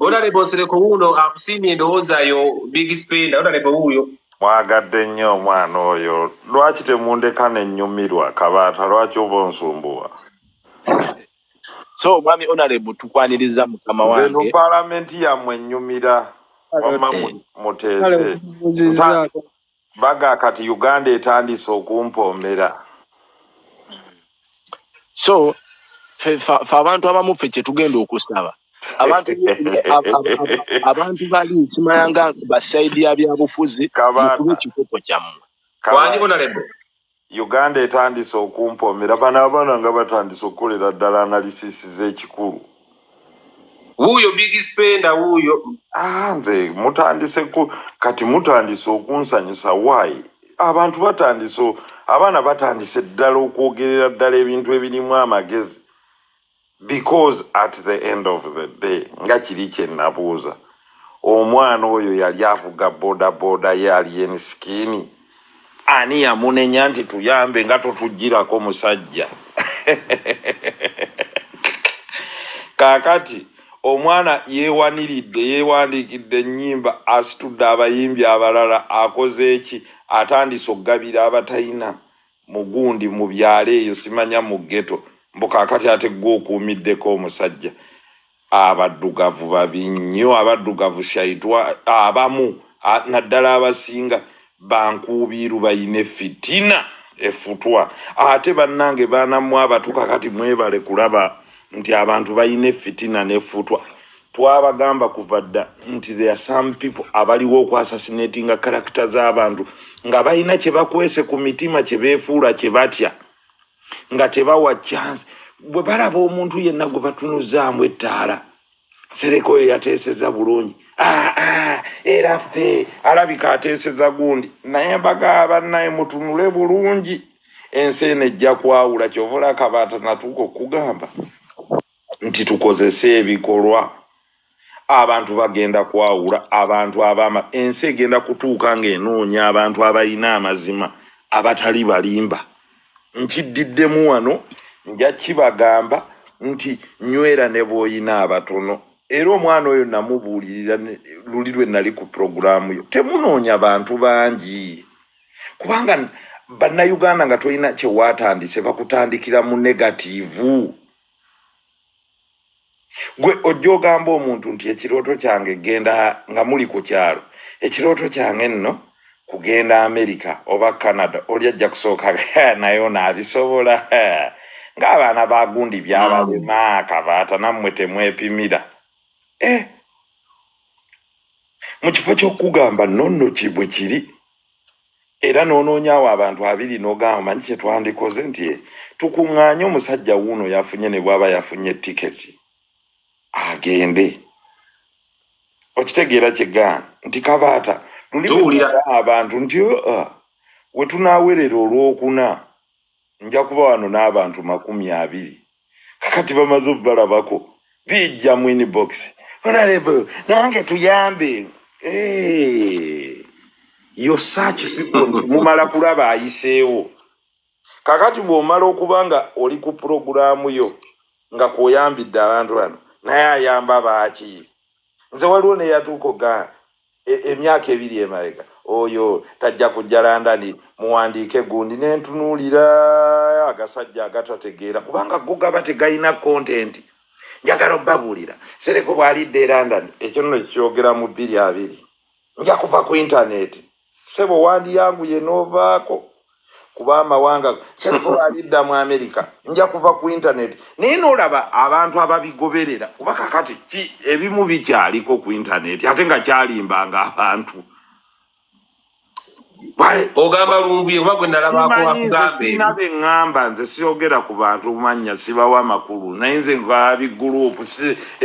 Honorable Nsereko wuuno akusiimye endowooza yo big spender Honorable wuuyo mwagadde nnyo omwana oyo lwaki temundeka nenyumirwa kabaata lwaki oba onsumbuwa so omwami Honorable tukwaniriza mukama wange nze no palamenti yamwe nyumira wamma muteese baga kati uganda etandise okumpoomera so fe abantu abamu fe kyetugenda okusaba abantu abantu bali nsimayanga basaidi ya byabufuzi mukube ekikopo kyammwe Uganda etandise okumpoomera bano abaana nga batandise okukolera ddala analysis z'ekikulu. Wuuyo big spender wuuyo. Ah, nze mutandise ku kati mutandise okunsanyusa why? Abantu batandise abaana batandise ddala okwogerera ddala ebintu ebirimu amagezi. because at the end of the day nga kiri kyenabuuza omwana oyo yali avuga bodaboda ye alien skini ani yamunenya nti tuyambe nga totujjirako musajja kakati omwana yewaniridde yewandikidde enyimba asitudde abayimbi abalala akoze eki atandise okugabira abatayina mugundi mu byalo eyo simanya mu geto mbu kakati ate gwe okuumiddeko omusajja abaddugavu babi nnyo abaddugavu shaitwa abamu naddala abasinga bankuubiiru bayine fitina efutwa ate bannange baanamwe abatuka kati mwebale kulaba nti abantu bayina efitina nefutwa twabagamba kuva dda nti there are some people abaliwo okwasasinatinga karakita z'abantu nga balina kye bakwese ku mitima kye beefuula kye batya nga tebawa chance bwe balaba omuntu yenna gwe batunuzaamu ettaala sereka oyo yateeseza bulungi ah, ah, era ffe alabika ateeseza gundi naye mbaga abannaye mutunule bulungi ensi eno ejja kwawula kyovula kabaata natuuka okugamba nti tukozese ebikolwa abantu bagenda kwawula abantu abama ensi egenda kutuuka ng'enoonya abantu abalina amazima abatali balimba nkiddiddemu wano nja kibagamba nti nywera ne bwoyina abatono era omwana oyo namubuulirira luli lwe nali ku pulogulaamu yo temunoonya bantu bangi kubanga bannayuganda nga tolina kyewaatandise bakutandikira mu negativu gwe ojja ogamba omuntu nti ekirooto kyange genda nga muli ku kyalo ekirooto kyange nno kugenda amerika oba canada oli ajja kusooka naye onaabisobola ng'abaana bagundi byabalema kabaata nammwe temwepimira eh. mu kifo ky'okugamba nonno kibwe kiri era nonoonyawo abantu abiri nogamba manyi kyetwandikoze nti eh, tukuŋŋaanye omusajja wuuno yafunye ne bwaba yafunye tiketi agende okitegeera kyegaa nti kabaata luliwulira abantu nti uh, wetunawerera olwokuna nja kuba wano n'abantu makumi abiri kakati bamaze obubalabako bijja mu inbox onalebe nange tuyambe eh, yo such people mumala kulaba ayiseewo kakati bw'omala okuba nga oli ku pulogulaamu yo nga kwoyambidde abantu bano naye ayamba baaki nze waliwo neyatuuka ogaa E, emyaka ebiri emabega oyo tajja kujja landani muwandiike gundi nentunuulira agasajja agatategeera kubanga go gaba tegalina kontenti njagala obabuulira sereko bwalidde e landani ekyo nno kyogera mu bbiri abiri nja kuva ku intaneti sebo wandiyanguye novaako kuba amawanga kyereko balidda mu amerika nja kuva ku intaneti naye nolaba abantu ababigoberera kuba kakati ki ebimu bikyaliko ku intaneti ate nga kyalimbanga abantu ogamba lumbuye oba gwe nalabakoakugambsirina be ŋŋamba nze siyogera ku bantu mannya sibawa makulu naye nze nvaabigurupu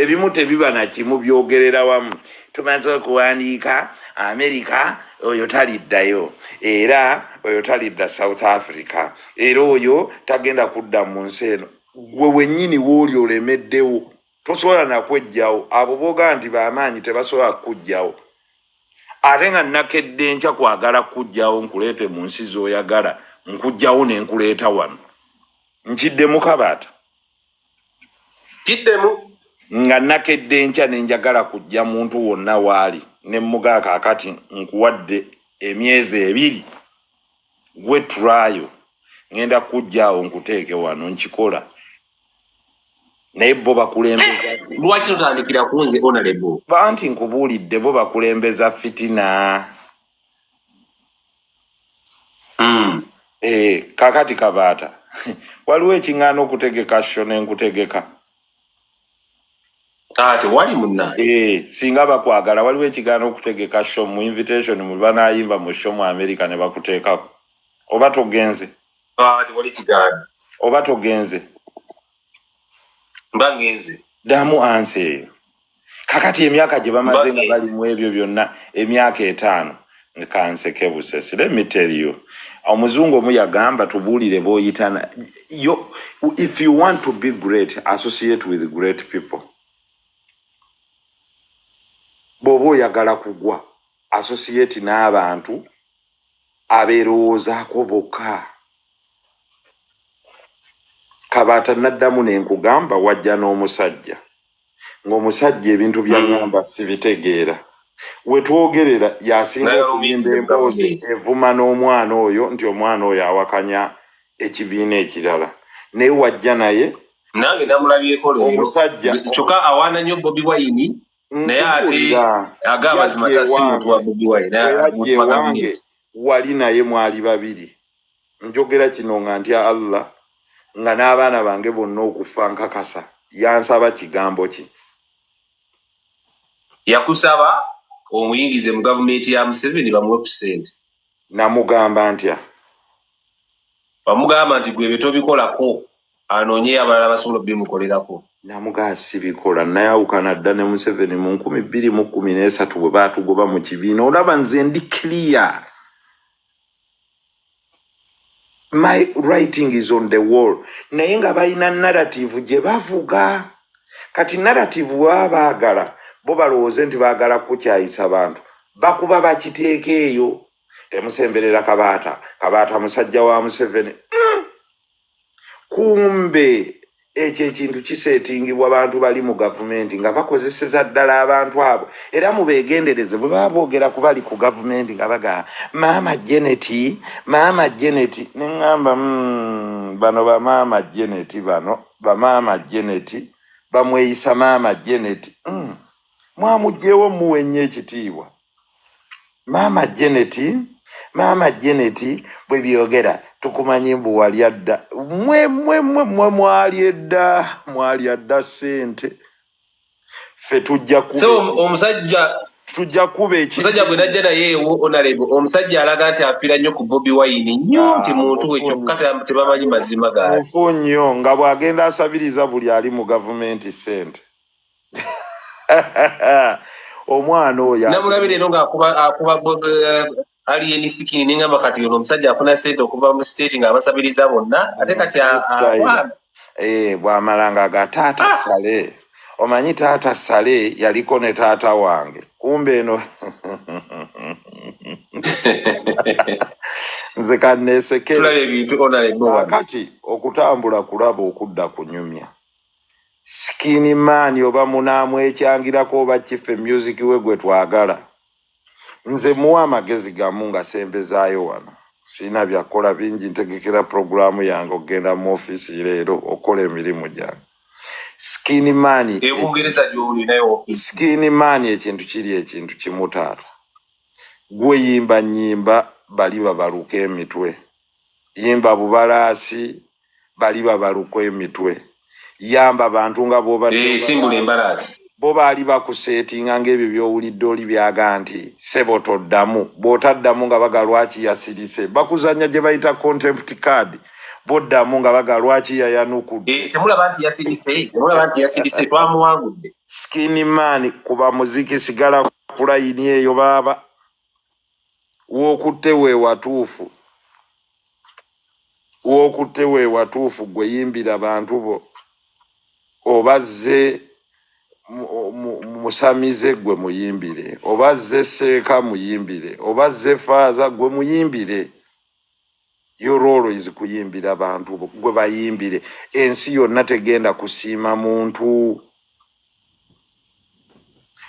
ebimu tebiba nakimu byogerera wamu tumaze okuwandiika amerika oyo taliddayo era oyo talidda south africa era oyo tagenda kudda mu nsi eno gwe wenyini wooli olemeddewo tosobola nakwejjawo abo boga nti bamaanyi tebasobola kukujjawo ate nga nakedde enkya kwagala kukujjawo nkuleete mu nsi zoyagala nkujjawo nenkuleeta wano nkidde mukabaata kiddemu nga nakedde enkya ne njagala kujja muntu wonna waali ne mmugaa kaakati nkuwadde emyezi ebiri gwe turayo ŋenda kujja awo nkuteeke wano nkikola naye bo bakulembeza lwaki totandikira kunze onalebo banti nkubuulidde bo bakulembeza fitina mm. e, kakati kabaata waliwo ekiŋŋaana okutegeka sho nenkutegeka ate wali muna e, eh, singa bakwagala waliwo ekigaana okutegeka sho mu invitation mu banayimba mu sho mu america ne bakuteekako oba togenze ate wali kigaana oba togenze mba ngenze ddamu ansi eyo kakati emyaka gye bamaze nga bali mu ebyo byonna emyaka etaano kanseke busesi let me tell you omuzungu omu yagamba tubuulire boyitana yo if you want to be great associate with great people bw'oba oyagala kugwa associate n'abantu abeerowoozaako bokka kabaata naddamu ne nkugamba wajja n'omusajja ng'omusajja ebintu byagamba mm. sibitegeera wetwogerera yasinga okuyimba emboozi evuma n'omwana oyo nti omwana oyo awakanya ekibiina ekirala naye wajja naye nange namulabyeko omusajja kyokka awaana nnyo bobi wayini naye ate aga amazima tasimutuwa bobi wayini wali naye mwali babiri njogera kino nga ntya allah nga n'abaana bange bonna okufa nkakasa yansaba kigambo ki yakusaba omuyingize mu gavumenti ya museveni bamuwe ku sente namugamba ntya bamugamba nti gwebe tobikolako anoonye abalala basobola obimukolerako namugaa sibikola nayawukana dda ne museveni mu nkumi bbiri mu kkumi n'esatu bwe baatugoba mu kibiina olaba nze ndi clear my writing is on the wall naye nga balina narrative gye bavuga kati narrative bwebaba baagala bo balowooze nti baagala kukukyayisa bantu bakuba bakiteeka eyo temusemberera kabaata kabaata musajja wa museveni mm. kumbe ekyo ekintu kiseetingibwa bantu bali mu gavumenti nga bakozeseza ddala abantu abo era mubeegendereze bwe baba boogera ku bali ku gavumenti nga bagamba maama geneti maama geneti ne ŋŋamba hmm, bano bamaama geneti bano bamaama geneti bamweyisa maama geneti hmm, mwamugyewo muwe nnyo ekitiibwa maama jeneti maama jeneti bwe byogera tukumanyi mbu wali adda mwe mwe mwe mwe mwali edda mwali adda sente ffe tujja ku omusajja tujja kuba ekisajja gwe najja naye ewo onalebo omusajja alaga nti afira nnyo ku bobi wayini nnyo ah, nti muntu we kyokka tebamanyi mazima gaali mufu nnyo nga bw'agenda asabiriza buli ali mu gavumenti sente omwana oyo namulabi leero ngaakuba eh, alien sikini nengamba kati ono omusajja afuna sente okuva mu state nga abasabiriza bonna ate kati eh, bwamala nga ga taata ah! sale omanyi taata sale yaliko ne taata wange kumbe eno nze kaneesekera kati okutambula kulaba okudda kunyumya skin man oba munamwekyangirako oba kiffe music we gwe twagala nze muwa amagezi gamu nga sembezaayo wano sirina byakukola bingi ntegekera puroguramu yange okugenda mu ofiisi leero okukola emirimu gyange skin man skin man ekintu kiri ekintu kimutaata gweyimba nyimba bali babaluka emitwe yimba bubalaasi bali babaluka emitwe yamba bantu nga bobasimbula eh, embalaasi bo baali bakuseetinga ngaebyo byowulidde oli byaga nti sebo toddamu bwotaddamu nga baga lwaki yasirise bakuzanya gye bayita contempt card boddamu nga baga lwaki yayanukudde eh, temulaba nti yasirise temulaba nti yasirise twamuwangudde skin man kuba muziki sigala kulayini eyo baaba wokutte wewatuufu wokutte wewatuufu gwe yimbira bantu bo oba zze musamize gwe muyimbire oba zze seeka muyimbire oba zze faaza gwe muyimbire your role is kuyimbira bantu gwe bayimbire ensi yonna tegenda kusiima muntu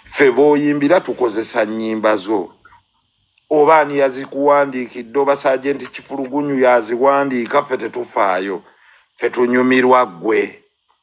ffe booyimbira tukozesa nnyimba zo oba ani yazikuwandiikidde oba saajenti kifulugunyu yaziwandiika ffe tetufaayo ffe tunyumirwa ggwe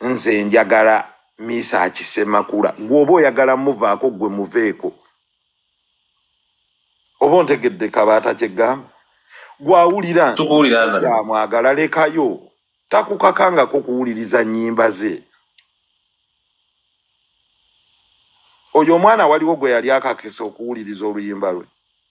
nze njagala miisa akisemakula gweoba oyagala muvaako gwe muveeko oba ontegedde kabaata kyegamba gwawulira amwagala lekayo takukakangako kuwuliriza nyimba ze oyo omwana waliwo gwe yali akakisa okuwuliriza oluyimba lwe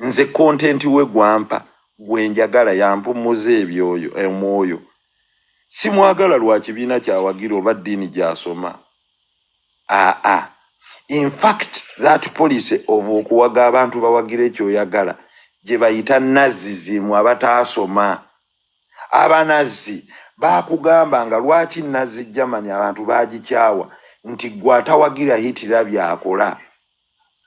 nze content we gwampa gwenjagala yampumuza ebyoyo emwoyo simwagala lwa kibiina kyawagira oba ddiini gyasoma aa infact that policy of okuwaga abantu bawagira ekyoyagala gye bayita nazzi zimu abataasoma abanazzi bakugamba nga lwaki nazzi germany abantu bagikyawa nti gwe atawagira hitira byakola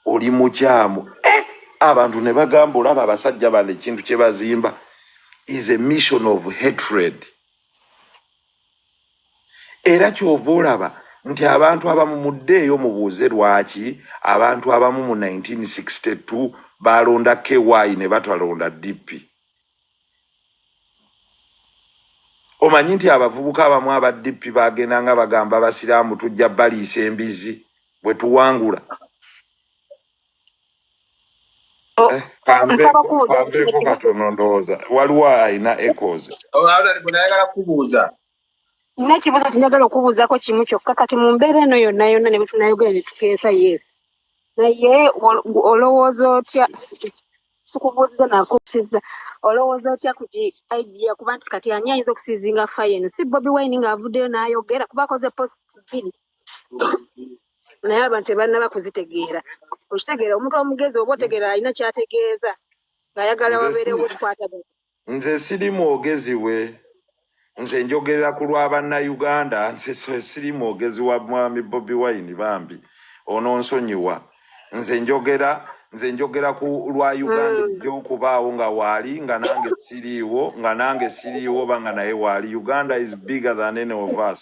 oli mukyamu eh, abantu ne bagamba olaba abasajja bano ekintu kye bazimba is a mission of hatred era kyova olaba nti abantu abamu muddeeyo mubuuze lwaki abantu abamu mu 1962 baalonda ky ne batalonda dp omanyi nti abavubuka abamu aba dp bagenda nga bagamba abasiraamu tujja baliisa embizzi bwe tuwangula oh, eh, kambeeko katono ndowooza waliwo alina ecos nayagala kubuuza nina ekibuuzo kinjagala okubuuzako kimu kyokka kati mu mbeera eno yonna yonna ne bwetunayogera ne tukeesa yes naye olowooza otya sikubuuziza nakusiza olowooza otya ku ki idea kuba nti kati ani ayinza okusizinga fayo eno si bobi wine ng'avuddeyo n'ayogera kuba akoze post bbiri naye abantu tebanaba kuzitegeera okitegeera omuntu omugezi oba otegeera alina kyategeeza ng'ayagala wabeerewo okukwatagana nze siri mwogezi we nze njogerera ku lwa bannayuganda nze siri mwogezi wa mwami bobi wine bambi ono nsonyiwa nze njogera nze njogera ku lwa uganda mm. gyokubaawo nga waali nga nange siriiwo nga nange siriiwo oba nga naye waali uganda is bigger than any of us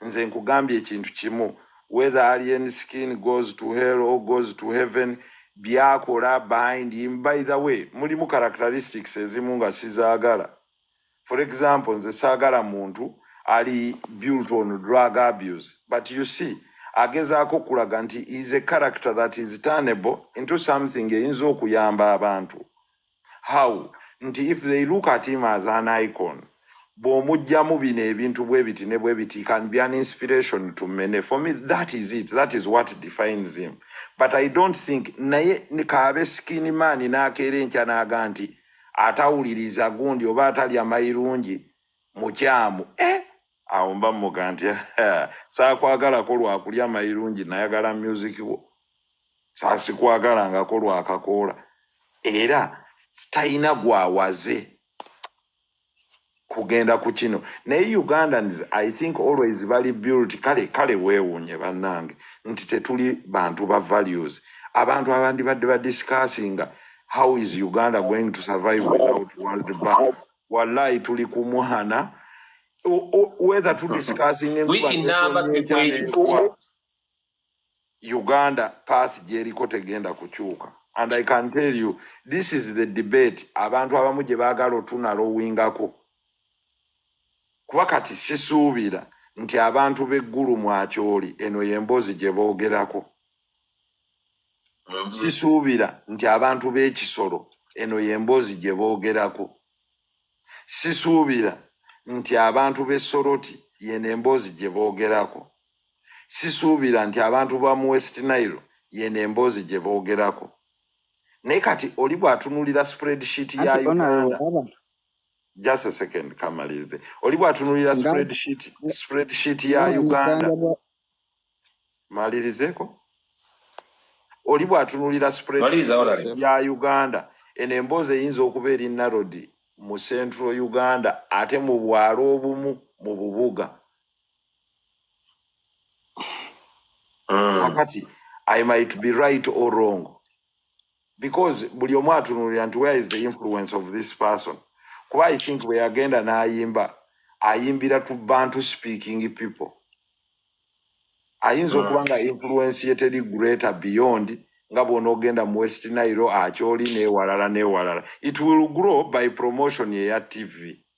nze nkugambye ekintu kimu whether alien skin goes to hell or goes to heaven byakola behind him by the way mulimu characteristics ezimu nga sizaagala for example nze saagala muntu ali built on drug abuse but you see agezaako okulaga nti is a character that is turnable into something eyinza okuyamba abantu how nti if they look at him as an icon bw'omugyamu bino ebintu bwe biti ne bwe biti can be an inspiration to many for me that is it that is what defines him but i don't think naye kaabe skin man n'akeera enkya n'aga nti atawuliriza gundi oba atalya mayirungi mukyamu eh? awo mba muga nti saakwagalako lwakulya mayirungi nayagala music wo saasikwagalangako lwakakoola era talina gwawaze kugenda ku kino naye ugandans i think always bali built kale kale weewunye bannange nti tetuli bantu ba values abantu abandi badde badiscussinga how is uganda going to survive without world bank wallahi tuli ku mwana O- o- whether to discussing enkuba Wiki nnamba n'etonnya etya tekweri. n'enkuba, uganda path gyeriko tegenda kukyuka and i can tell you this is the debate abantu abamu gye baagala otunalowingako kuba kati sisuubira nti abantu b'eggulu mwakyoli eno y'emboozi gye boogerako sisuubira nti abantu b'ekisolo eno y'emboozi gye boogerako sisuubira nti abantu b'e soroti yeno emboozi gye boogerako sisuubira nti abantu ba mu west nile yeno emboozi gye boogerako naye kati oli bw'atunulira spreadsheet ya uganda just a second kamalirize oli bw'atunulira spreadsheet ya uganda malirizeko oli bwatunulira ya uganda eno emboozi eyinza okuba eri narodi mu central uganda ate mu bwalo obumu mu bubuga mm. kakati i might be right or wrong because buli omu atunulira nti where is the influence of this person kuba i think bwe yagenda n'ayimba ayimbira to bantu speaking people ayinza mm. okuba nga influence ye teri greater beyond nga bwonaogenda mu west nairo akyoli newalala newalala it will grow by promotion eya tv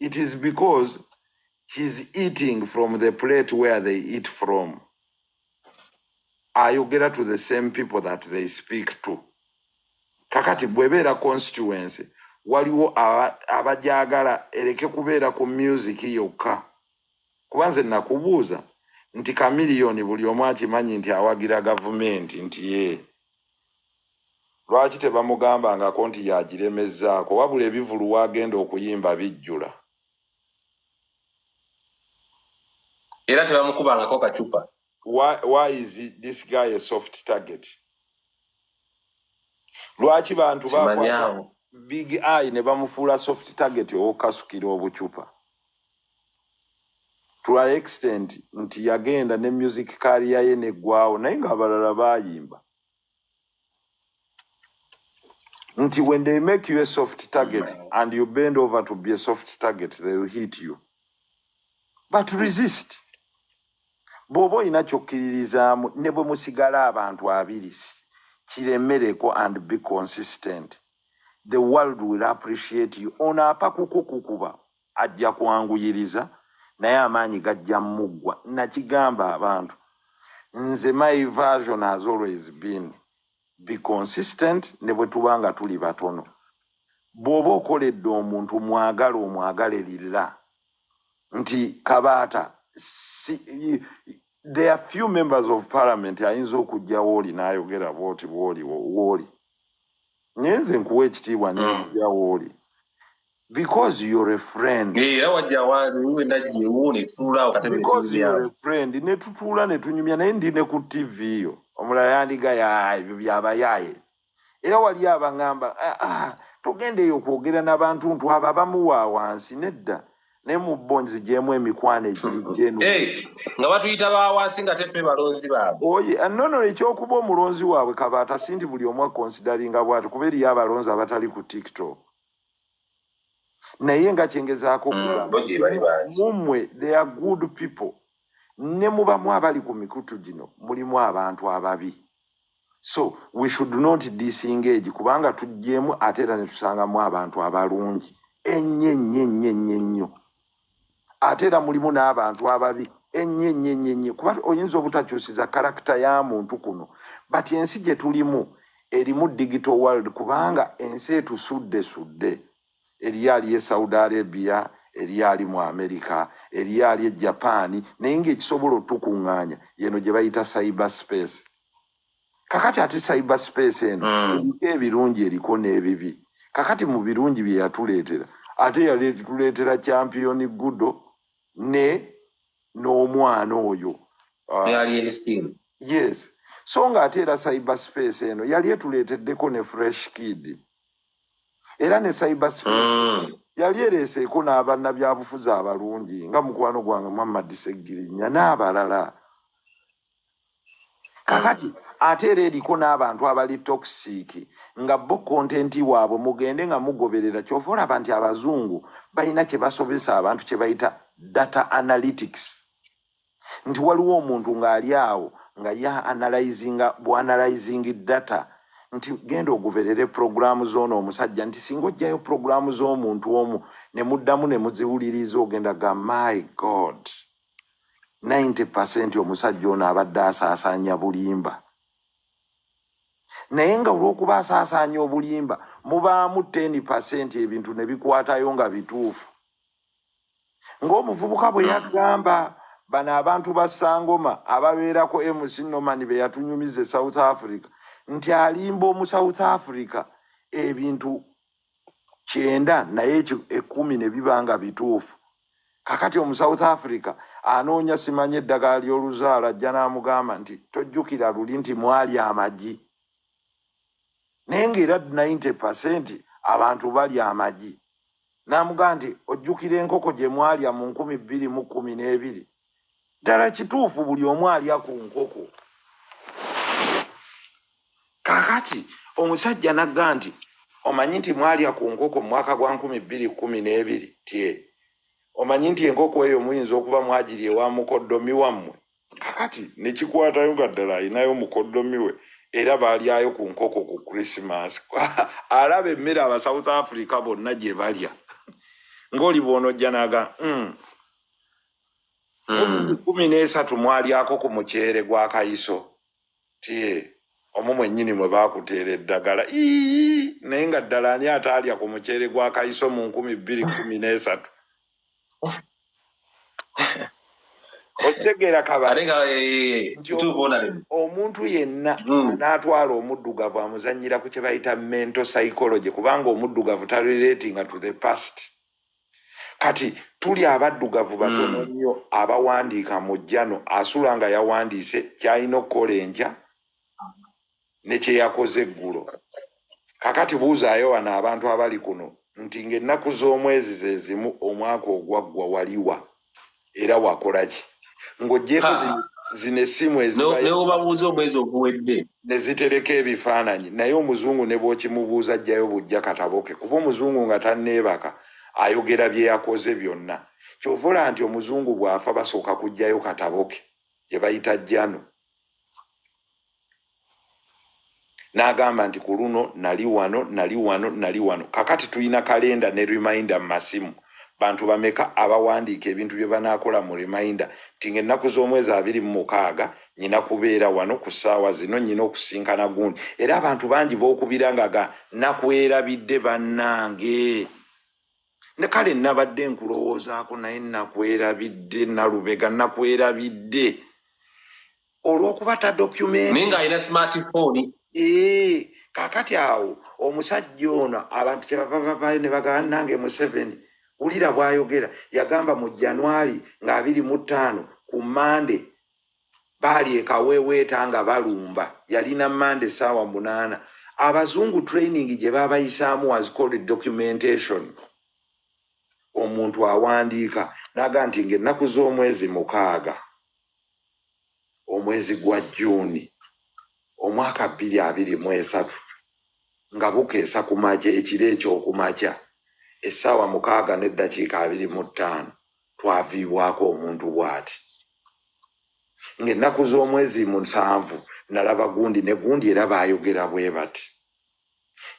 it is because he's eating from the plate where they eat from ayogera to the same people that they speak to kakati bwebeera constituency waliwo abajagala ereke kubeera ku music yokka kuba nze nakubuuza nti kamiliyoni buli omu akimanyi nti awagira gavumenti nti ye Lwaki tebamugambangako nti y'agiremezzaako wabula ebivulu w'agenda okuyimba bijjula. Era tebamukubangako kacupa. Why, why is it, this guy a soft target? Lwaki bantu bakwata big eye ne bamufuula soft target ow'okukasukira obucupa? to an extent nti yagenda ne music career ye neggwawo naye ng'abalala bayimba nti when they make you a soft target and you bend over to be a soft target they will hit you but resist bw'oba olina kyokkiririzaamu ne bwe musigala abantu abiri kiremereko and be consistent the world will appreciate you ono apa kukukukuba ajja kwanguyiriza naye amaanyi gajja muggwa nakigamba abantu nze my version has always been be consistent ne bwe tuba nga tuli batono bw'oba okoledde omuntu mwagala omwagale lilla nti kabaata si, there are few members of parliament ayinza okujjawo oli n'ayogera bwoti bwoli wooli ngenze nkuwa ekitiibwa mm. nenzijawooli because you're a friend era wajawaliwe najewuuni tutuulaawo because you're a friend netutuula netunyumya naye ndi ne ku tv yo omulala yandiga ya ebyo byabayaaye era wali abangamba ah, ah, tugenda eyo okwogera nabantu ntu abo abamuwa wansi nedda ne mu bo nzigyemu emikwano egiri genu nga batuyita bawansi nga tefe balonzi baabwe oye ah, nono ekyokuba omulonzi waabwe kabaata si nti buli omu akonsidaringa bwati kuba eriyo abalonzi abatali ku tiktok naye nga kyengezaako mm, okugamumwe they are good people ne mubamu abali ku mikutu gino mulimu abantu ababi so we should not disengage kubanga tujjeemu ate era netusangamu abantu abalungi ennyo ennyo ennyo ennyo ennyo ate era mulimu n'abantu ababi ennyo ennyo ennyo ennyo kuba oyinza obutakyusiza karakita ya muntu kuno but ensi gye tulimu erimu digital world kubanga ensi etusuddesudde eriyo ali e saudi arabia eriyo ali mu amerika eriyo ali e japaani naye ngaekisobola otukuŋŋaanya yeno gye bayita cyber space kakati ate cyber space eno mm. eriko ebirungi eriko n'ebibi kakati mu birungi bye yatuleetera ate yaleetuleetera champiyoni gudo ne n'omwana oyo uh, yes so nga ate era cyber space eno yali etuleeteddeko ne fresh kid era ne cyber space mm. yali ereeseeko n'abanna byabufuzi abalungi nga mukwano gwange muhammad segirinya n'abalala kakati ate era eriko n'abantu abali tokisiiki nga bo kontenti waabwe mugende nga mugoberera kyova olaba nti abazungu balina kye basobesa abantu kye bayita data analytics nti waliwo omuntu ng'ali awo nga ye analyzinga bwanalyzing data nti genda oguberere puroguramu zoono omusajja nti singa ojjayo puroguramu z'omuntu omu ne muddamu ne muziwuliriza ogenda ga my god 90 percent omusajja ono abadde asaasaanya bulimba naye nga olw'okuba asaasaanya obulimba mubaamu 10 percent ebintu ne bikwatayo nga bituufu ng'omuvubuka bwe yagamba bano abantu ba sangoma ababeerako mc noman be yatunyumiza e south africa nti alimba omu south africa ebintu kyenda naye ekumi ne biba nga bituufu kakati omu south africa anoonya simanya eddagala ly'oluzaala ajja n'amugamba nti tojjukira luli nti mwali amagi naye ng'era 90 pasenti abantu bali amagi n'amugamba nti ojjukira enkoko gye mwalya mu nkumi bbiri mu kkumi n'ebiri ddala kituufu buli omu alya ku nkoko kakati omusajja nagga nti omanyi nti mwalya ku nkoko mu mwaka gwa nkumi bbiri kkumi n'ebiri tye omanyi nti enkoko eyo muyinza okuba mwagiri ewa mukoddomi wammwe kakati nekikwatayo nga ddala alinayo mukoddomi we era balyayo ku nkoko ku krisimas alaba emmere aba south africa bonna gye balya ngaoli bwonojjanaga mm. Hmm. kumi n'esatu mwalyako ku muceere gwa kayiso tie omu mwennyini mwe baakuteera eddagala ii naye nga ddala ani ataalya ku muceere gwa kayiso mu nkumi bbiri kumi n'esatu okitegeera kabale nti omuntu yenna hmm. n'atwala omuddugavu amuzannyira ku kye bayita mental psychology kubanga omuddugavu taliretinga to the past kati tuli abaddugavu batono hmm. nnyo abawandiika mu jjano asula nga yawandiise kyalina okukola enkya ne kyeyakoze eggulo kakati buuzaayo wano abantu abali kuno nti ng'ennaku z'omwezi ze zimu omwaka ogwaggwa waliwa era wakolaki ng'ogyeko zino essimu ezinewobabuuza omwezi oguwedde ne zitereka ebifaananyi naye omuzungu ne bwokimubuuza ajjayo bujja kataboke kuba omuzungu nga tanneebaka ayogera bye yakoze byonna kyovula nti omuzungu bw'afa basooka kujjayo kataboke gye bayita jano n'agamba nti ku luno nali wano nali wano nali wano kakati tulina kalenda ne reminder mu masimu bantu bameka abawandiika ebintu bye banaakola mu reminder nti ngaennaku z'omwezi abiri mu mukaaga nyina kubeera wano ku ssaawa zino nyina okusinkana gundi era abantu bangi bookubira nga ga nakwerabidde bannange ne kale nabadde nkulowoozaako naye nakwerabidde nalubega nakwerabidde olwokuba ta document naye nga alina smartphone ee eh, kakati awo omusajja ono abantu kyebavavavayo ne bagaba nange museveni wulira bwayogera yagamba mu januari nga abiri mu ttaano ku mande baali ekaweeweeta nga balumba yalina mande saawa munaana abazungu training gye babayisaamu was called documentation omuntu awandiika naga nti ngaennaku z'omwezi mukaaga omwezi gwa juuni omwaka bbiri abiri mu esatu nga bukeesa ku makya ekiro ekyokumakya essaawa mukaaga n'eddakiika abiri mu ttaano twaviibwako omuntu bw'ati ng'ennaku z'omwezi musanvu nalaba gundi ne gundi era baayogera bwe bati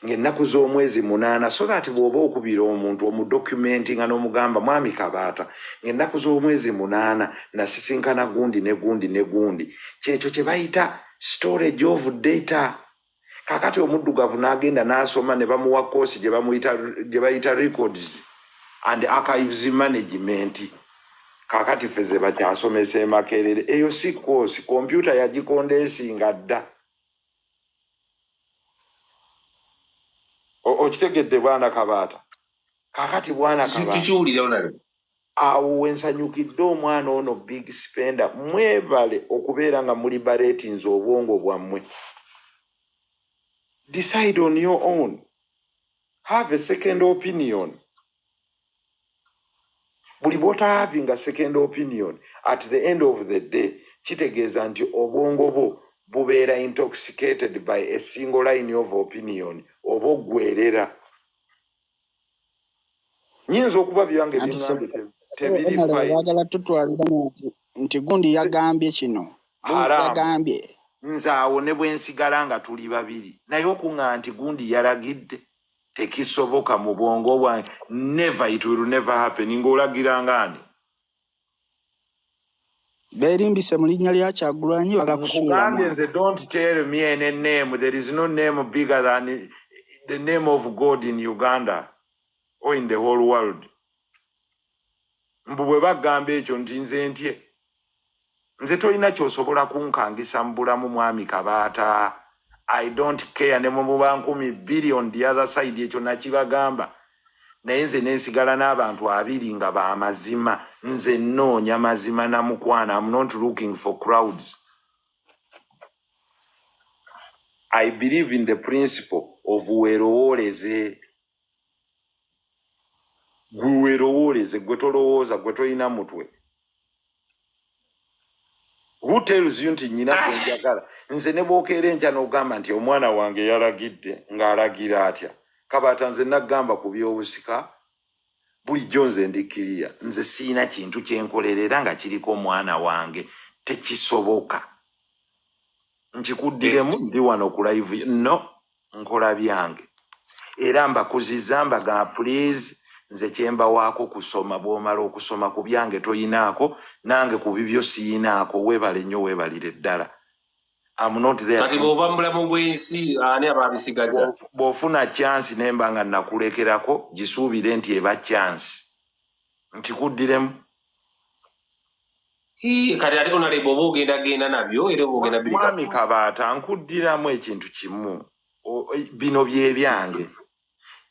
ng'ennaku z'omwezi munaana so that bw'oba okubira omuntu omudokumenti nga n'omugamba mwami kabaata ng'ennaku z'omwezi munaana nasisinkana gundi ne gundi ne gundi kyekyo kye bayita storage of data kakati omuddugavu n'agenda n'asoma ne bamuwa koosi gye bayita records and archives management kakati ffe ze bakyasomesa emakerere eyo si koosi kompyuta yagikondeesinga dda okitegedde bwana kabaata kakati bwana awo wensanyukidde omwana ono big spender mwebale okubeera nga muli baretinze obwongo bwammwe decide on your own have a second opinion buli bwota having a second opinion at the end of the day kitegeeza nti obwongo bwo bubeera intoxicated by a single line of opinion oba oggwerera nyinza okuba byange tebiriagala tutwalira nti nti gundi yagambye kino yagambye nze awo ne bwensigala nga tuli babiri naye okuŋa nti gundi yalagidde tekisoboka mu bwongo bwange never it will never happen ng'olagira ngaani beerimbise mu linnya lya kyagulanyi bagala kusuulamu nze don't tell me any name there is no name bigger than the name of god in uganda or in the whole world mbu bwe bagamba ekyo nti nze ntye nze tolina kyosobola kunkangisa mu bulamu mwami kabaata i don't care ne mumuba nkumi bbiri on the other side ekyo nakibagamba naye nze nensigala n'abantu abiri nga bamazima nze nnoonya mazima na mukwana am not looking for crowds i believe in the principle of werowooleze gwewerowooleze gwe tolowooza gwe tolina mutwe who tells you nti nyina gwenjagala nze ne bwokeera enkya n'ogamba nti omwana wange yalagidde ng'alagira atya kabaata nze nagamba ku byobusika bulijjo nze ndikkiriya nze siina kintu kye nkolerera nga kiriko omwana wange tekisoboka nkikuddiremu ndi wano ku live no nkola byange era mbakuziza mbaga please nze kyemba waako kusoma bwomala okusoma ku byange toyinaako nange ku bibyo siyinaako webale nnyo webalire ddala kati bwoba mubulamu bwensi ani ababisigaza bwofuna kyansi nemba nga nakulekerako gisuubire nti eba kyansi nti kuddiremu kati ate onaleba oba ogenda genda nabyo era oba ogenda mwami kabaata nkuddiramu ekintu kimu e, bino byebyange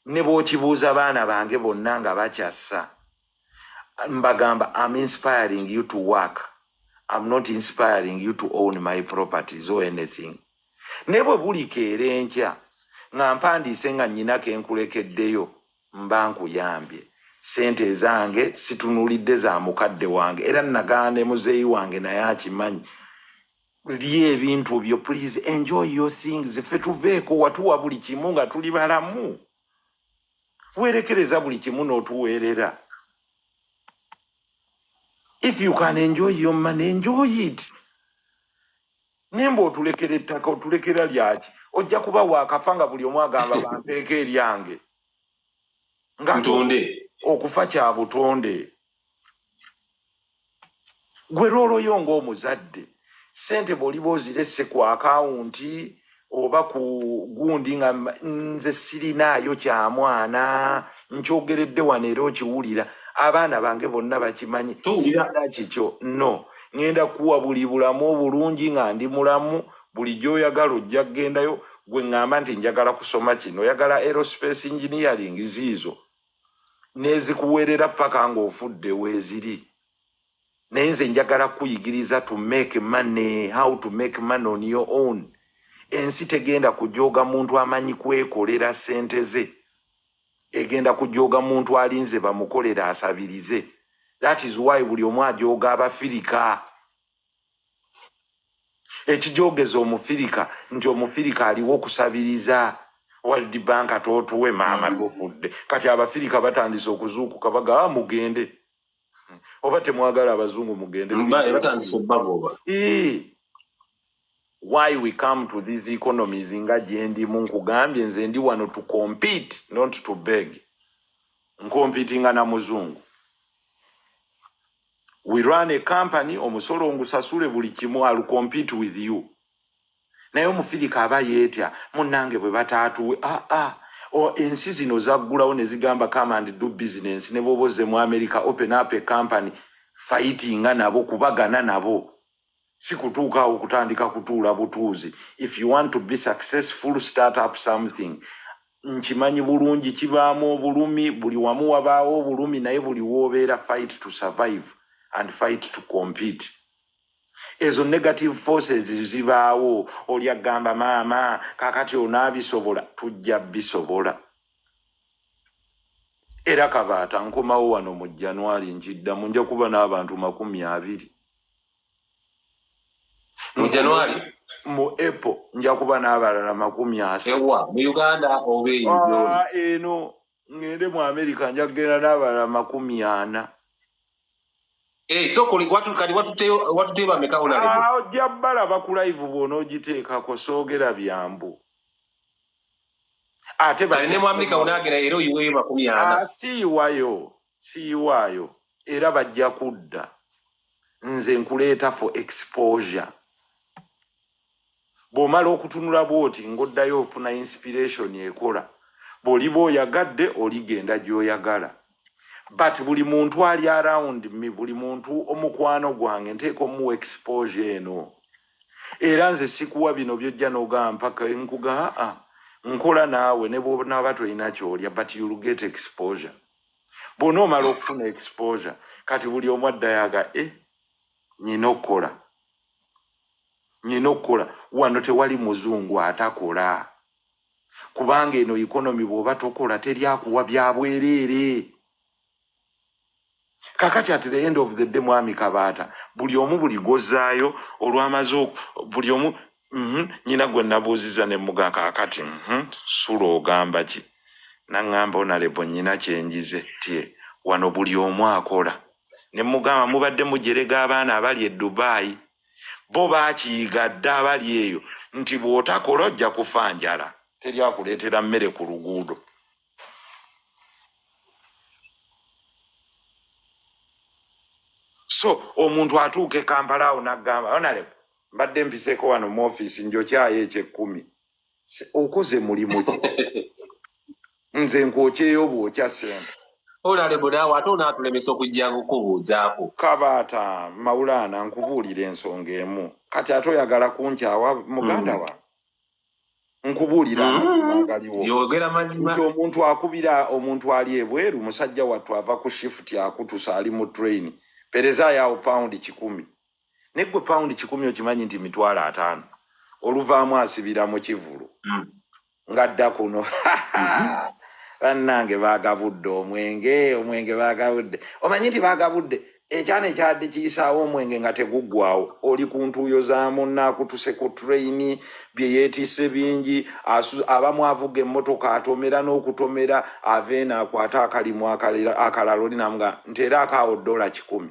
ne bwokibuuza baana bange bonna nga bakyassa mbagamba am inspiring you to work am not inspiring you to own my properties or anything ne bwe bulikeera enkya nga mpandiise nga nnyina ke nkulekeddeyo mba nkuyambye sente ezange situnulidde za mukadde wange era nagana ne muzeeyi wange naye akimanyi lya ebintu byo please enjoy your things ffe tuveeko watuwa buli kimu nga tuli balamu werekereza buli kimu n'otuweerera if you can enjoy your money enjoy it nimba otulekera ettaka otulekera lyaki ojja kuba waakafa nga buli omu agamba bampeeko eryange ngatonde okufa kya butonde gwe lwoloyo ngaomuzadde sente bwoliba ozirese ku akawunti oba ku gundi nga nze sirinaayo kyamwana nkyogeredde wano era okiwulira abaana bange bonna bakimanyi sirina kikyo no ŋenda kuwa buli bulamu obulungi nga ndi mulamu buli gyoyagala ojja kugendayo gwe ŋŋamba nti njagala kusoma kino oyagala aerospace engineering ziizo nezikuweerera paka ng'ofudde weeziri naye nze njagala kuyigiriza to make money how to make money on your own ensi tegenda kujooga muntu amanyi kwekolera sente ze egenda kujooga muntu alinze bamukolera asabirize that is why buli omu ajooga abafirika ekijoogeza omufirika nti omufirika aliwo okusabiriza world bank totuwe maama tufudde kati abafirika batandise okuzuukuka bagaa ah, mugende oba temwagala abazungu mugende why we come to these economies nga gyendimu nkugambye nze ndi wano to compete not to beg nkompitinga na muzungu we run a company omusolo ngusasule buli kimu al compete with you naye omufirika aba yeetya munnange bwe bataatuwe aa ah, ah. ensi zino zaggulawo ne zigamba kamandi do bizinensi ne bwoba ozze mu amerika open up a company fayitinga nabo kubagana nabo si kutuukaawo kutandika kutuula butuuzi if you want to be successful start up something nkimanyi bulungi kibaamu obulumi buli wamu wabaawo obulumi naye buli woobeera fight to survive and fight to compete ezo negative forces zibaawo oli agamba maama kakati onaabisobola tujja bisobola era kabaata nkomawo wano mu januari nkiddamu nja kuba n'abantu makumi abiri mu januari mu epo nja kuba n'abalala makumi asawa mu uganda oba eyo ah, eno ngende mu amerika nja kugenda n'abalala makumi ana eh, ah, ojja bala bakulaivu bwona ogiteekako soogera byambu ate ah, siiwayo siiwaayo era bajja kudda nze nkuleeta for exposure bw'omala okutunula bw'oti ng'oddayo ofuna inspiration ekola bw'oliba oyagadde oligenda gy'oyagala but buli muntu ali around me buli muntu omukwano gwange nteeka omuwa exposure eno era nze sikuwa bino byojja n'ogamba mpaka nkuga aa nkola naawe ne bwonaaba tolina kyolya but you'll get exposure bwona omala okufuna exposure kati buli omu addayaga e eh, nyina okukola nyina okukola wano tewali muzungu atakola kubanga eno ikonomi bwoba tokola teri akuwa byabwereere kakati at the end of the day mwami kabaata buli omu buli gozaayo olwamaze buli omu mhm, nyina gwe nabuuziza ne muga kakati mhm, sula ogamba ki naŋŋamba onalebo nyina kyenjize tye wano buli omu akola ne mugamba mubadde mujerega abaana abali e dubayi bo bakiyiga dda abali eyo nti bw'otakola ojja kufa njala teri akuleetera mmere ku luguudo so omuntu atuuka e kampala awo naggamba onale mbadde mpiseeko wano mu ofiisi njokyayo ekyekkumi okoze mulimu ki nze nkwokyeyo bwokya sente olalimu naawe ate onaatulemesa okujja kukubuuzaako kabaata mawulaana nkubuulira ensonga emu kati ate oyagala kunkyawa muganda mm. wa nkubuulira mm. amazima agaliwo nti omuntu akubira omuntu ali ebweru musajja wattu ava ku shifuti akutusa ali mu traini perezaayo awo pawundi kikumi ne gwe pound kikumi okimanyi nti mitwalo ataano oluvaamu asibira mu kivulu mm. nga dda kuno mm-hmm. bannange baagabudde omwenge omwenge baagabudde omanyi nti baagabudde ekyana ekyadde kiyisaawo omwenge nga teguggwawo oli ku ntuuyo za munnaakutuse ku tureyini bye yeetisse bingi abamu avuga emmotoka atomera n'okutomera ava eno akwate akalimu akalala oli namuga nti era akaawo ddoola kikumi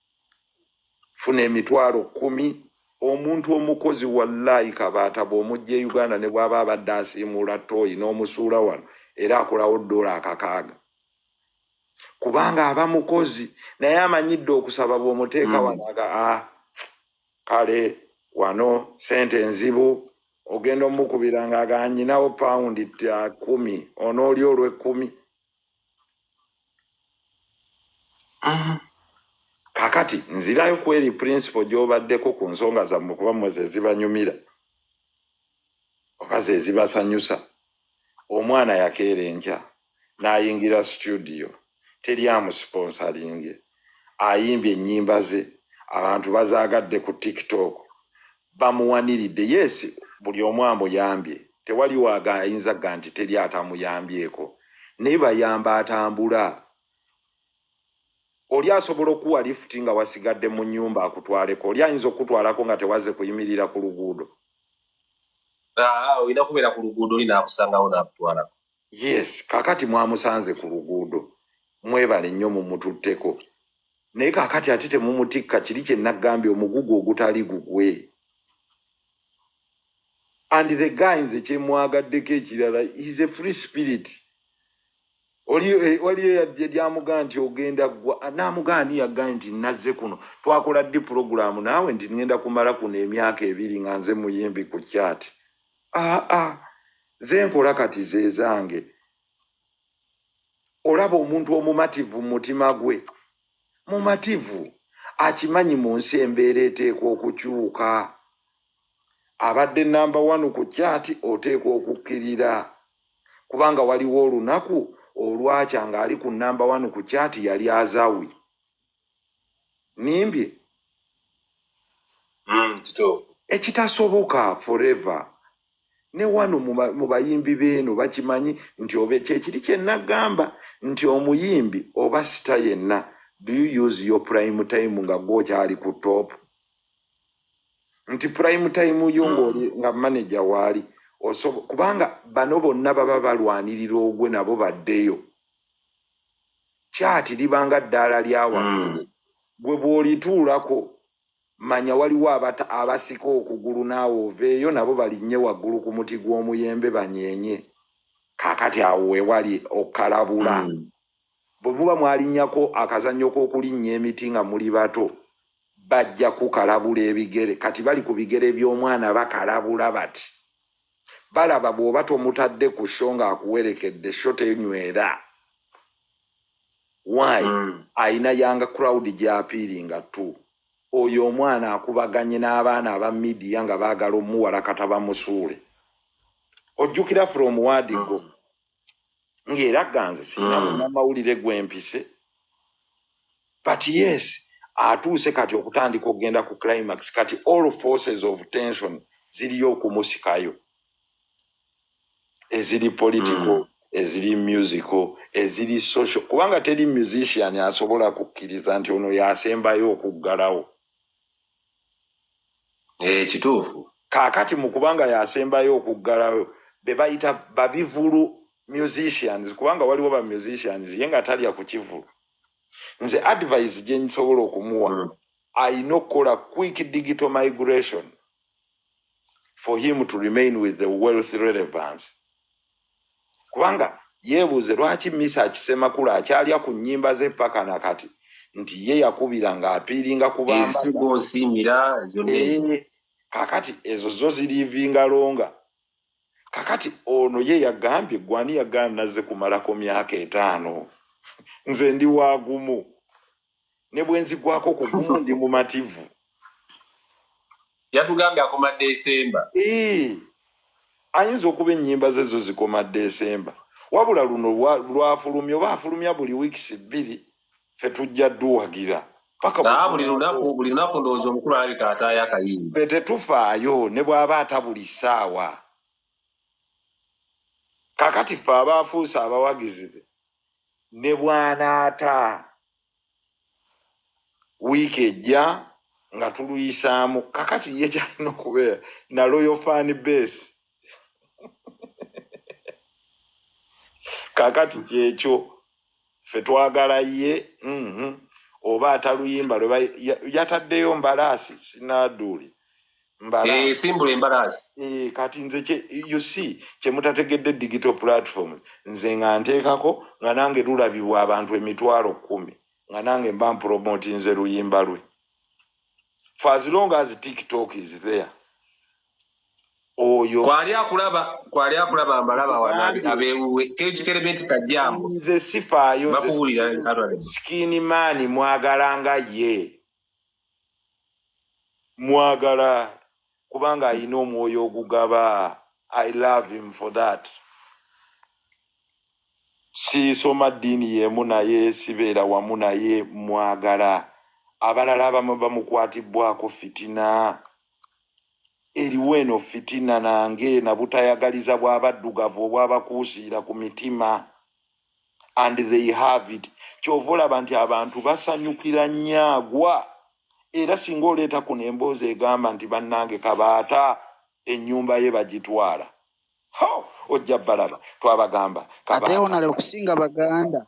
funa emitwalo kumi omuntu omukozi wallahi kabaata bwomujja e uganda ne bwaba abadde asiimuula tooyi n'omusuula wano era akolawo doola akakaaga kubanga aba mukozi naye amanyidde okusaba bwomuteeka mm. wanaga a ah, kale wano sente enzibu ogenda omukubira nga aganyinawo pawundi kumi onooli olwekumi Mm-hmm. kakati nzirayo ku eri principal gyobaddeko ku nsonga zammwe kuba mmwe zezibanyumira oba zezibasanyusa omwana yakeera enkya n'ayingira situdiyo teri amusiponsalinge ayimbye ennyimba ze abantu bazaagadde ku tiktok bamuwaniridde yes buli omu amuyambye tewali waga ayinza ga nti teri atamuyambyeko naye bayamba atambula oli asobola okuwa lifuti nga wasigadde mu nyumba akutwaleko oli ayinza okukutwalako nga tewaze kuyimirira ku luguudo olina kubeera ku luguudo oli nakusangawo nakutwalako yes kakati mwamusanze ku luguudo mwebale nnyo mumututteko naye kakati ate temumutikka kiri kye nagambye omugugu ogutali gugwe and the guy nze kyemwagaddeko ekirala is a free spirit waliyo eh, yadde lyamuga nti ogenda gwa namuga ani yagae nti nazze kuno twakola ddi pulogulaamu naawe nti ngenda kumala kuno emyaka ebiri nga nze muyimbi ku kyati aa zenkola kati zezange olaba omuntu omumativu mumutima gwe mumativu akimanyi mu nsi embeera eteekwa okukyuka abadde namba one ku kyati oteekwa okukkirira kubanga waliwo olunaku olwakya ng'ali ku namba one ku kyati yali azawi nimbye mm, ekitasoboka forever ne wano mu bayimbi beeno bakimanyi nti oba kyekiri kyenagamba nti omuyimbi oba sita yenna do you use your prime time nga gwokyali ku top nti prime time yo hmm. ngaoli nga manaja waali kubanga bano bonna baba balwanirira ogwe nabo baddeyo kyati liba nga ddaala lya waggulu mm. gwe bw'olituulako manya waliwo abata abasika okugulu naawe oveeyo nabo balinnye waggulu ku muti gw'omuyembe banyeenye kaakati awo wewali okukalabula mm. bwe muba mwalinnyako akazannyo k'okulinnya emiti nga muli bato bajja kukalabula ebigere kati bali ku bigere by'omwana bakalabula bati balaba bw'oba tomutadde ku sho ng'akuwerekedde sho tenywera why mm. ayina yanga crowd gyapiiringa tu oyo omwana akubaganye n'abaana aba midiya nga baagala omuwala kata bamusuule ojjukira from wadigo mm. ng'era ganze sirina mm. munamawulire gwempise but yes atuuse kati okutandika okugenda ku climax kati all forces of tension ziriyo okumusikayo eziri political mm. eziri musical eziri social kubanga teri musician asobola kukkiriza nti ono yasembayo okuggalawo eh, kituufu kaakati mu kubanga yasembayo okuggalayo be bayita babivulu musicians kubanga waliwo ba musicians ye nga talya ku kivulu nze advise gye nsobola okumuwa mm. ayina okukola quick digital migration for him to remain with the wealth relevance kubanga yeebuuze lwaki misa akisemakula akyalya ku nnyimba ze paka na kati nti ye yakubira ng'apiiringa kubambasigoosiimira eh, kakati ezo zo ziriivinga longa kakati ono ye yagambye gwani yagaana nazze kumalako myaka etaano nze ndi waagumu ne bwe nzigwako ku gumu ndi mumativu yatugambye akoma desemba ayinza okuba ennyimba ze zo zikoma desemba wabula luno lwafulumya oba afulumya buli wiikis bbiri fe tujja duwagira buli lunaku buli lunaku ndowooza omukulu alabika ataayo akayimba fe tetufaayo ne bw'aba ata buli ssaawa kakati ffe abaafuuse abawagizi be ne bwanaata wiiki ejja nga tuluyisaamu kakati ye kyalina okubeera na loyo fan base kakati kyekyo fe twagala ye mhm. oba ataluyimba lweba yataddeyo mbalaasi sinaduuli Eh, simbula embalaasi eh, kati nze you see kyemutategedde digital platform nze nga nteekako nga nange lulabibwa abantu emitwalo kumi nga nange mba mpromoti nze luyimba lwe for as long as tiktok is there oyo kwali akulaba kwali akulaba mbalaba abewuwe tekikerebe nti kajjambo nze sifaayo bakuwulira skin man mwagalanga ye mwagala kubanga ayina omwoyo ogugaba i love him for that siisoma ddiini yemu naye sibeera wamu naye mwagala abalala abamu bamukwatibbwako fitina eriwo eno fitina nange nabutayagaliza bwabaddugavu obwabakuusiira ku mitima and they have it kyova olaba nti abantu basanyukira nyagwa era singa oleeta kuno emboozi egamba nti bannange kabaata ennyumba ye bagitwala ho ojja balaba twabagamba ateonale okusinga baganda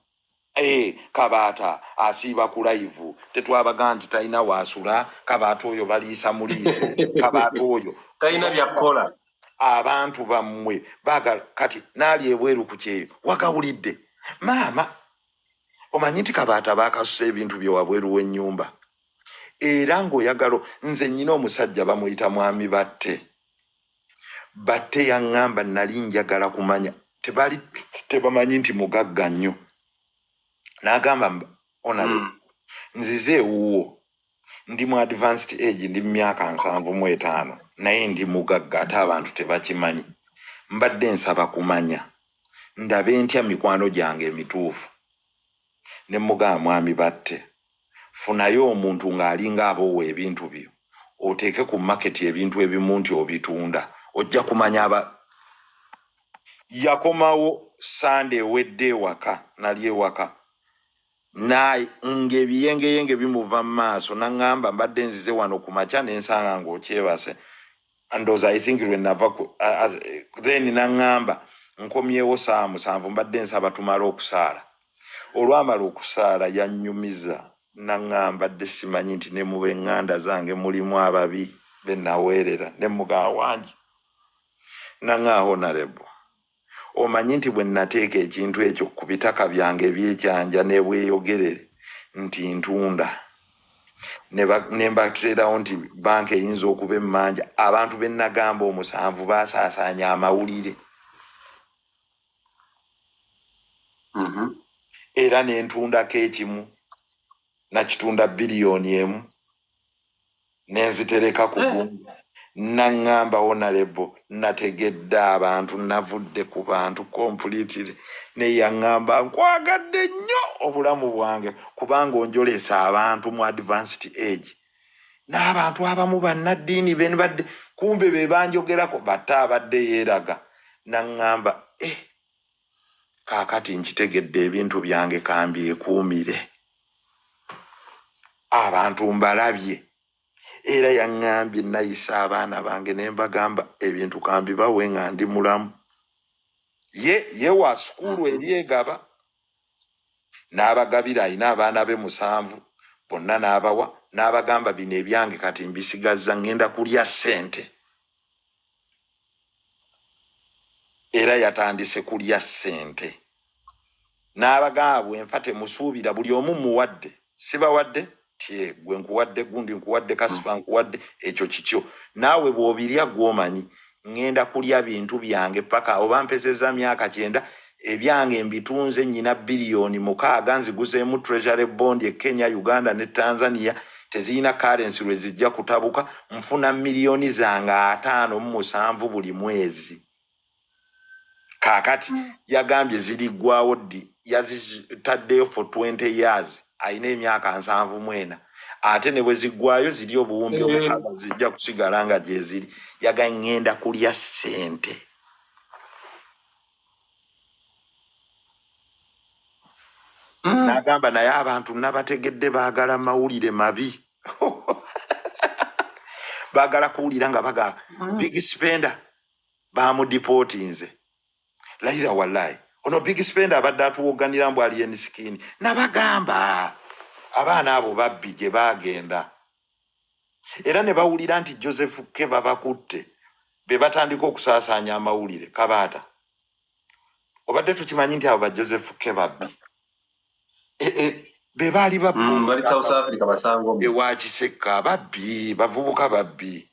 ee eh, kabaata asiiba ku layivu tetwabaga nti talina waasula kabaata oyo baliisa muliise kabaata oyo talina byakukola abantu bammwe bagala kati naali ebweru ku kyeyo wagawulidde maama omanyi nti kabaata bakasusa ebintu bye wabweru w'ennyumba era ng'oyagalo nze nnyina omusajja bamuyita mwami batte batte yaŋŋamba nali njagala kumanya tebali tebamanyi nti mugagga nnyo n'agamba onale hmm. nzize ewuwo ndi mu advanced age ndi mu myaka nsanvu mu etaano naye ndi mugagga ate abantu tebakimanyi mbadde nsaba kumanya ndabe ntya mikwano gyange emituufu ne mugaa mwami batte funayo omuntu ng'alinga aboowa ebintu byo oteeke ku maketi ebintu ebimu nti obitunda ojja kumanya aba yakomawo sande ewedde ewaka nali ewaka naye ng'ebiyengeyenge bimuva mu maaso naŋŋamba mbadde nzize wano ku makya ne nsanga ng'okyebase ndoza i think lwe nava then naŋŋamba nkomyewo saa musanvu mbadde nsaba tumale okusaala olwamala okusaala yannyumiza naŋŋamba dde simanyi nti ne mu b'eŋŋanda zange mulimu ababi be naweerera ne mugaa wangi naŋŋaa honarebo omanyi nti bwe nnateeka ekintu ekyo ku bitaka byange ebyekyanja nebweyogerere nti ntunda ne mbateerawo nti banka eyinza okuba emmanja abantu be nnagamba omusanvu baasaasaanya amawulire mm-hmm. era ne ntundako ekimu nakitunda biliyoni emu nenzitereka ku eh. gungu naŋŋamba wonalebo nategedde abantu navudde ku bantu kompulitire naye yaŋŋamba nkwagadde nnyo obulamu bwange kubanga onjolesa abantu mu advanced age n'abantu abamu bannaddiini benbadde kumbe be banjogerako batte abadde yeeraga naŋŋamba e eh, kaakati nkitegedde ebintu byange kambyekuumire abantu mbalabye era yaŋŋambye nayisa abaana bange ne mbagamba ebintu kambibawe nga ndi mulamu ye ye wa sukuulu ebyegaba n'abagabira alina abaana be musanvu bonna n'abawa n'abagamba bino ebyange kati mbisigazza ŋŋenda kulya ssente era yatandise kulya ssente n'abagamba bwenfa temusuubira buli omu muwadde sibawadde tye gwe nkuwadde gundi nkuwadde kasifa nkuwadde ekyo kikyo naawe bw'obirya gw'omanyi ŋŋenda kulya bintu byange paka oba mpezeza myaka kyenda ebyange mbitunze nyina biliyoni mukaaga nziguzeemu treasury bond e kenya uganda ne tanzania tezirina karensi lwe zijja kutabuka nfuna miliyoni zange ataano mu musanvu buli mwezi kaakati hmm. yagambye ziriggwawo ddi yazitaddeyo for 20 years alina emyaka nsanvu mwena ate ne bwe ziggwayo ziri obuwumbi eh. omukaaga zijja kusigala nga gyeziri yaga ŋŋenda kulya ssente mm. nagamba naye abantu nabategedde bagala mawulire mabi bagala kuwulira nga baga mm. big spender bamudipotinze layira wallahi ono big spender abadde atuwoganira mbu ali ensikini nabagamba abaana abo babbi gye bagenda era ne bawulira nti joseph ke babakutte be batandika okusaasaanya amawulire kabaata obadde tukimanyi nti abo ba joseph ke babbi e, e, be baali baewa mm, kisekka babbi bavubuka babbi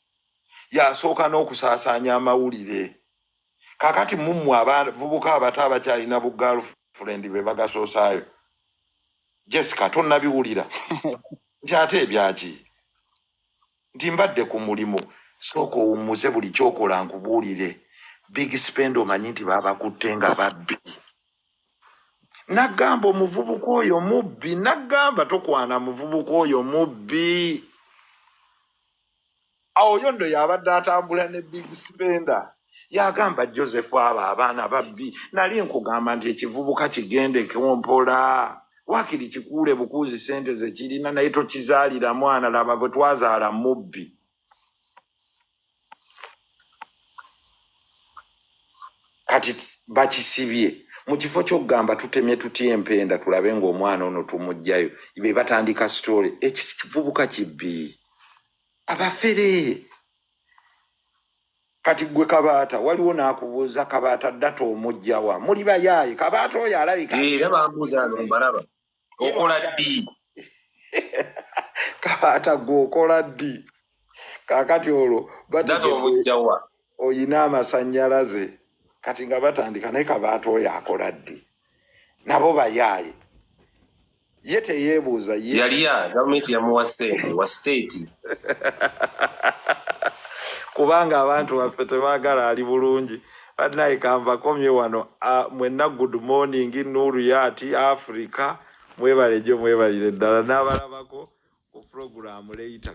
yasooka n'okusaasaanya amawulire kakati mummwe abavubuka abato abakyalina bu girlfriend be bagasoosaayo jessica tonabiwulira nti ate ebyaki nti mbadde ku mulimu sooka owummuze buli kyokola nkubuulire big spend omanyi nti babakutte nga babbi nagamba omuvubuka oyo mubbi nagamba tokwana muvubuka oyo mubbi awo yondo yabadde atambula ne big spender yagamba joseph abo abaana babbi nali nkugamba nti ekivubuka kigende kompola wakiri kikuule bukuuzi sente zekirina naye tokizaalira mwana laba bwe twazaala mubbi kati bakisibye mu kifo kyokugamba tutemye tutya empenda tulabe ngaomwana ono tumugjayo be batandika story ekivubuka kibbi abafere kati gwe kabaata waliwo nakubuuza kabaata data omujjawa muli bayaaye kabaata oyo alabika eh, era bambuuza nombalaba okola ddi kabaata gwe okola ddi kakati olwo data omujjawa oyina amasanyalaze kati nga batandika naye kabaata oyo akola ddi nabo bayaaye ye teyebuuza ye yaliya gavumenti yamuwa sente wa state kubanga abantu baffe tebagala ali bulungi banaye kanvakomye wano mwenna good morning nuuru yaati africa mwebale jo mwebalire ddala nabalabako ku programu leyita